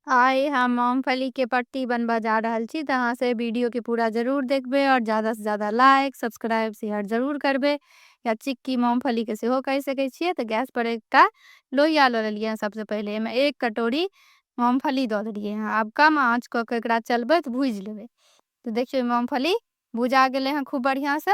आइ हम मूंगफली के पट्टी बनबा जा रहल छी त अहां से वीडियो के पूरा जरूर देखबे और ज्यादा से ज्यादा लाइक सब्सक्राइब शेयर जरूर करबे या चिक्की मूंगफली के सेहो कहि सके छिए त गैस पर एकटा लोहिया ल लेलिए हैं सबसे पहले एमे एक कटोरी मूंगफली द देलिए हैं अब कम आंच क के एकरा चलबैत भूज लेबे तो देखियो मूंगफली भुजा गेले हैं खूब बढ़िया से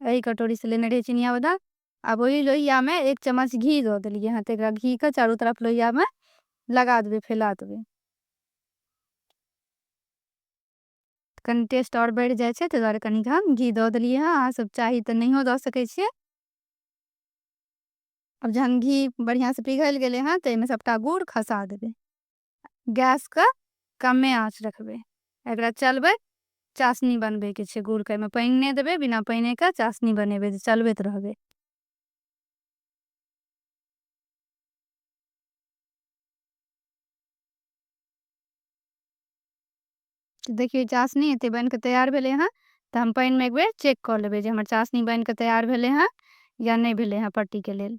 एहि कटोरीसँ लेने रहियै चिनिया बादाम आब ओहि लोहियामे एक चम्मच घी दऽ देलियै हँ तऽ एकरा घीके चारू तरफ लोहियामे लगा देबै फैला देबै कनि टेस्ट आओर बढ़ि जाइ छै ताहि दुआरे कनिक हम घी दऽ देलियै हँ अहाँसभ चाही तऽ नहियो दऽ सकै छियै अब जहन घी बढ़िआँसँ पिघलि गेलै हँ तऽ एहिमे सभटा गुड़ खसा देबै गैस के कमे आँच रखबै एकरा चलबै चाशनी बनबे के छै गुड़ के में पानि नहीं देबै बिना पानि के चाशनी बनेबै जे चलबैत रहबै देखिए चाशनी एते बन के तैयार भेले हैं तो हम पानि में एक बेर चेक कर लेबै जे हमर चाशनी बन के तैयार भेले हैं या नहीं भेले हैं पट्टी के लेल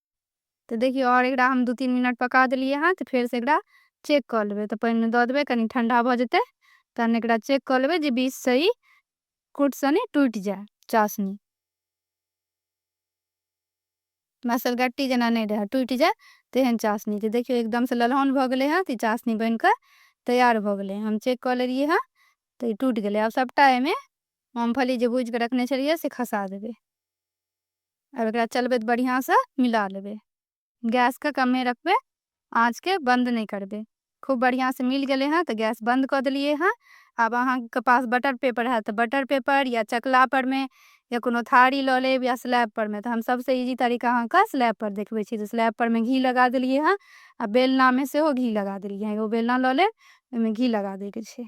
तऽ देखियौ आओर एकरा हम दू तीन मिनट पका देलियै हँ तऽ फेरसँ एकरा चेक कऽ लेबै तऽ पानिमे दऽ देबै कनि ठण्डा भऽ जेतै तहन एकरा चेक कऽ लेबै जे बीचसँ ई कुट सनी टूटि जाय चासनी मसल गट्टी जेना नहि रहै टूटि जाय तेहन चासनी तऽ देखियौ एकदमसँ ललहन भऽ गेलै हँ तऽ ई चासनी बनि कऽ तैयार भऽ गेलै हम चेक कऽ लेलियै हँ तऽ ई टूटि गेलै आब सभटा एहिमे मूँगफली जे भूजि कऽ रखने छलियै से खसा देबै अब एकरा चलबे त बढ़िया से मिला लेबे गैस के कमे रखबे आंच के बंद नहीं करबे खूब बढ़िया से मिल गए हैं तो गैस बंद कर दिलिए हैं अब अहाँ के पास बटर पेपर है तो बटर पेपर या चकला पर में या कोनो थारी ल लेब या स्लैब पर में तो हम सबसे इजी तरीका अहाँ के स्लैब पर देखबे छी तो स्लैब पर में घी लगा दिलिए हैं आ बेलना में से हो घी लगा दिलिए हैं एगो बेलना ल लेब ओहिमे घी लगा दे के छै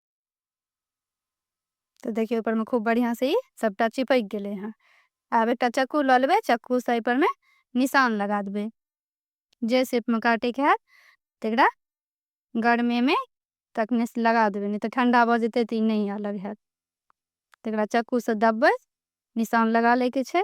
तऽ देखियौ ओहिपरमे खूब बढ़िआँसँ ई सभटा चिपकि गेलै हँ आब एकटा चक्कू लऽ लेबै चक्कूसँ एहिपरमे निशान लगा देबै जे शेपमे काटैके हैत तकरा गर्मीमे तखने लगा देबै नहि तऽ ठण्डा भऽ जेतै तऽ ई नहि अलग हैत तकरा चक्कूसँ दबबै निशान लगा लैके छै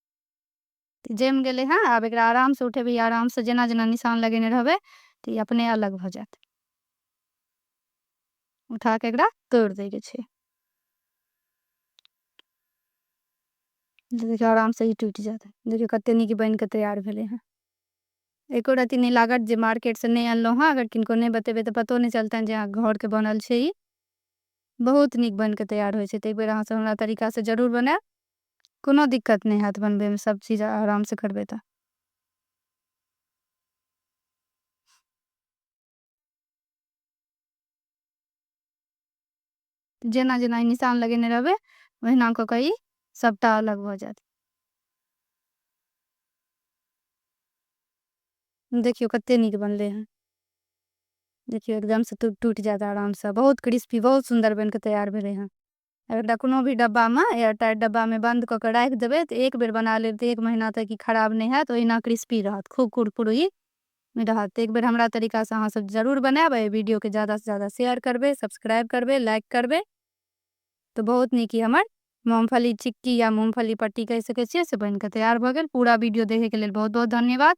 तऽ जमि गेलै हँ आब एकरा आरामसँ उठेबै आरामसँ जेना जेना निशान लगेने रहबै तऽ ई अपने अलग भऽ जायत उठा कऽ एकरा तोड़ि दैके छै देखियौ आरामसँ ई टूटि जायत देखियौ कतेक नीक बनि कऽ तैयार भेलै हँ एको रत्ती नहि लागत जे मार्केटसँ नहि अनलहुँ हँ अगर किनको नहि बतेबै तऽ पतो नहि चलतनि जे अहाँ घरके बनल छै ई बहुत नीक बनि कऽ तैयार होइ छै तऽ एक बेर अहाँसभ हमरा तरीकासँ जरूर बनायब कोनो दिक्कत नहि हएत बनबैमे सब चीज आरामसँ करबै तऽ। जेना जेना ई निशान लगेने रहबै ओहिना कऽ कऽ ई सबटा अलग भऽ जायत देखियौ कते नीक बनलै हँ देखियौ एकदमसँ टूटि जायत आरामसँ बहुत क्रिस्पी बहुत सुन्दर बनि कऽ तैयार भेलै हँ एकटा कोनो भी डब्बामे एयरटाइट डब्बामे बन्द कऽ कऽ राखि देबै तऽ एक बेर बना लेब तऽ एक महीना तक ई खराब नहि हैत ओहिना क्रिस्पी रहत खूब कुरकुरी रहत तऽ एक बेर हमरा तरीकासँ अहाँसभ जरूर बनायब एहि वीडियोके ज्यादासँ ज्यादा शेयर करबै सब्सक्राइब करबै लाइक करबै तऽ बहुत नीक ई हमर मूँगफली चिक्की या मूँगफली पट्टी कहि सकै छियै से बनि कऽ तैयार भऽ गेल पूरा वीडियो देखैके लेल बहुत बहुत धन्यवाद